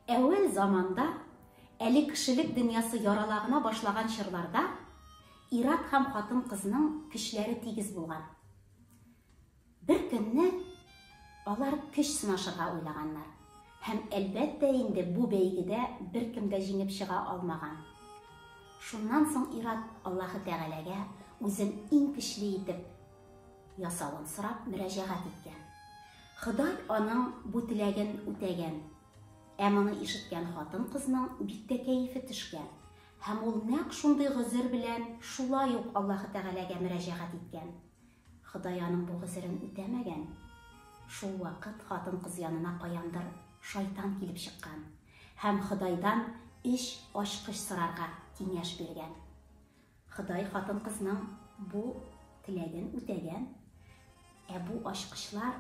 Әүвәл заманда, әле кешелек дөньясы ярала гына башлаган чорларда, ир-ат һәм хатын-кызның көчләре тигез булган. Бер көнне алар көч сынашырга уйлаганнар. Һәм әлбәттә инде бу бәйгедә беркем дә җиңеп чыга алмаган. Шуннан соң ир-ат Аллаһы Тәгаләгә үзен иң көчле итеп ясавын сорап мөрәҗәгать иткән. Ходай аның бу теләген үтәгән. Ә моны ишеткән хатын-кызның бик тә кәефе төшкән. Һәм ул нәкъ шундый гозер белән шулай ук Аллаһы Тәгаләгә мөрәҗәгать иткән. Ходай аның бу гозерен үтәмәгән. Шул вакыт хатын-кыз янына каяндыр шайтан килеп чыккан һәм Ходайдан эш ачкыч сорарга киңәш биргән. Ходай хатын-кызның бу теләген үтәгән. Ә бу ачкычлар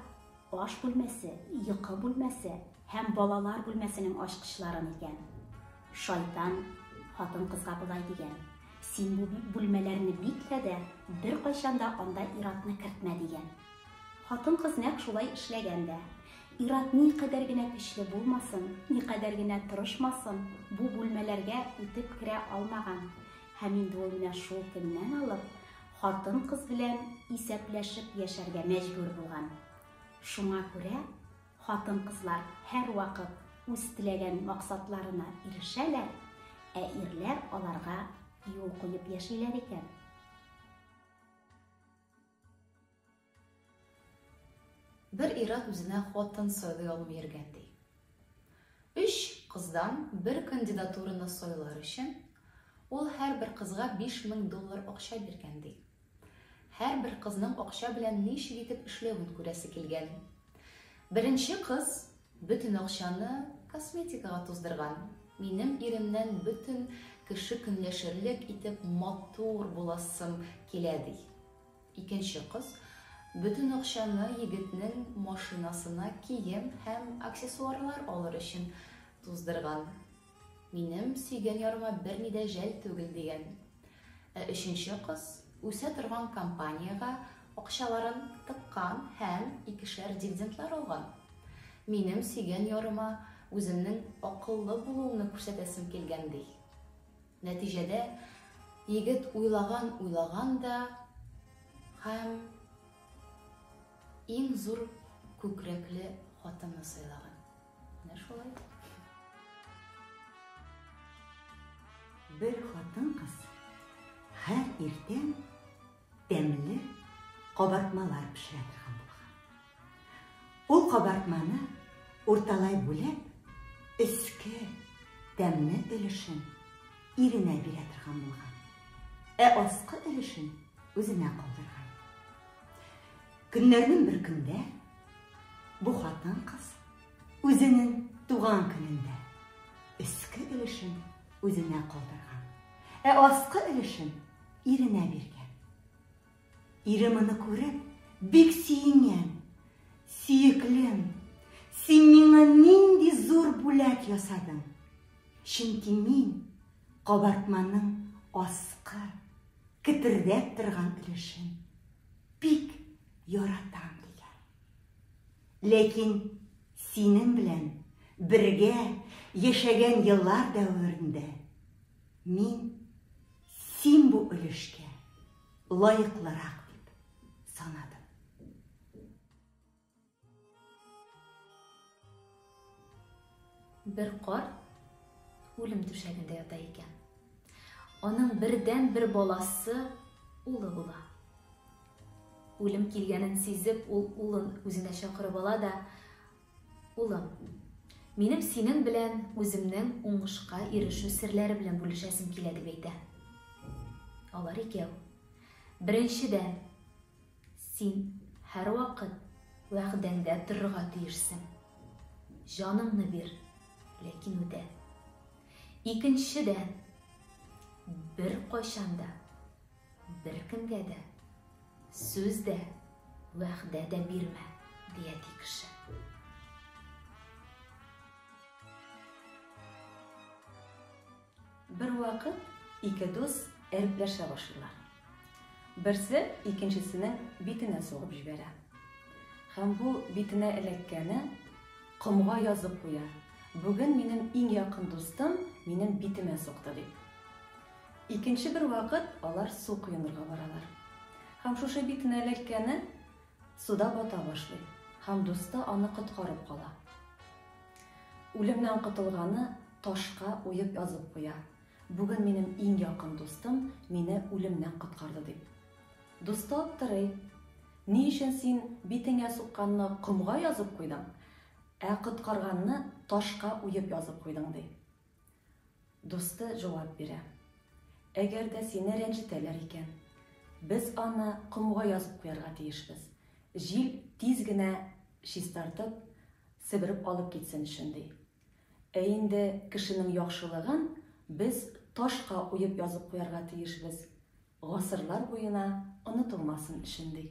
аш бүлмәсе, йокы бүлмәсе һәм балалар бүлмәсенең ачкычларын икән. Шайтан хатын-кызга болай дигән: "Син бу бүлмәләрне биклә дә, беркайчан да анда иратны кертмә" дигән. Хатын-кыз нәкъ шулай эшләгән дә. Ират никадәр генә көчле булмасын, никадәр генә тырышмасын, бу бүлмәләргә үтеп керә алмаган. Һәм инде ул менә шул көннән алып хатын-кыз белән исәпләшеп яшәргә мәҗбүр булган. Шуңа күрә хатын-кызлар һәрвакыт үз теләгән максатларына ирешәләр, ә ирләр аларга юл куеп яшиләр икән. Бер ир-ат үзенә хатын сайлый алмый йөргән, ди. Өч кыздан бер кандидатураны сайлар өчен ул һәрбер кызга биш мең доллар акча биргән, ди. Һәрбер кызның акча белән ничек итеп эшләвен күрәсе килгән. Беренче кыз бөтен акчаны косметикага туздырган. Минем иремнән бөтен кеше көнләшерлек итеп матур буласым килә, ди. Икенче кыз бөтен акчаны егетнең машинасына кием һәм аксессуарлар алыр өчен туздырган. Минем сөйгән ярыма берни дә жәл түгел, дигән. Ә өченче кыз үсә торган компаниягә акчаларын тыккан һәм икешәр дивидендлар алган. Минем сөйгән ярыма үземнең акыллы булуымны күрсәтәсем килгән, ди. Нәтиҗәдә, егет уйлаган-уйлаган да һәм иң зур күкрәкле хатынны сайлаган. Менә шулай. Бер хатын-кыз һәр иртән Тәмле кабартмалар пешерә торган булган. Ул кабартманы урталай бүләп, өске тәмле өлешен иренә бирә торган булган. Ә аскы өлешен үзенә калдырган. Көннәрнең бер көндә бу хатын кыз үзенең туган көнендә өске өлешен үзенә калдырган. Ә аскы өлешен Иренә биргән. Ире моны күреп, бик сөенгән. Сөеклем, син миңа нинди зур бүләк ясадың. Чөнки мин кабартманың аскы, кетердәп торган өлешен бик яратам дигән. Ләкин синең белән бергә яшәгән еллар дәверендә мин Син бу өлешкә лаеклырак бер кар үлем түшәгендә ята икән. Аның бердән бер баласы улы була. Үлем килгәнен сизеп, ул улын үзенә чакырып ала да, Улым, минем синең белән үземнең уңышка ирешү серләре белән бүлешәсем килә, дип әйтә. Алар икәү. Беренчедән, син һәрвакыт вәгъдәңдә торырга тиешсең. Җаныңны бир, ләкин үтә. Икенчедән, бер кайчанда Беркемгә дә сүз дә, вәгъдә дә бирмә, дия ди кеше. Бер вакыт ике дус әрепләшә башлыйлар. Берсе икенчесенең битенә сугып җибәрә. Һәм бу битенә эләккәне комга язып куя. Бүген минем иң якын дустым минем битемә сукты дип. Икенче бер вакыт алар су коенырга баралар. Һәм шушы битен әләлккәне суда бата башлый. Һәм дусты аны коткарып кала. Үлемнән котылганы ташка уеп язып куя. Бүген минем иң якын дустым мине үлемнән коткарды дип. Дусты аптырый. Ни өчен син битеңә сукканны комга язып куйдың, ә коткарганны ташка уеп язып куйдың, ди. Дусты җавап бирә. Әгәр дә сине рәнҗетәләр икән, без аны комга язып куярга тиешбез, җил тиз генә чистартып, себереп алып китсен өчен, ди. Ә инде кешенең яхшылыгын без ташка уеп язып куярга тиешбез, гасырлар буена онытылмасын өчен, ди.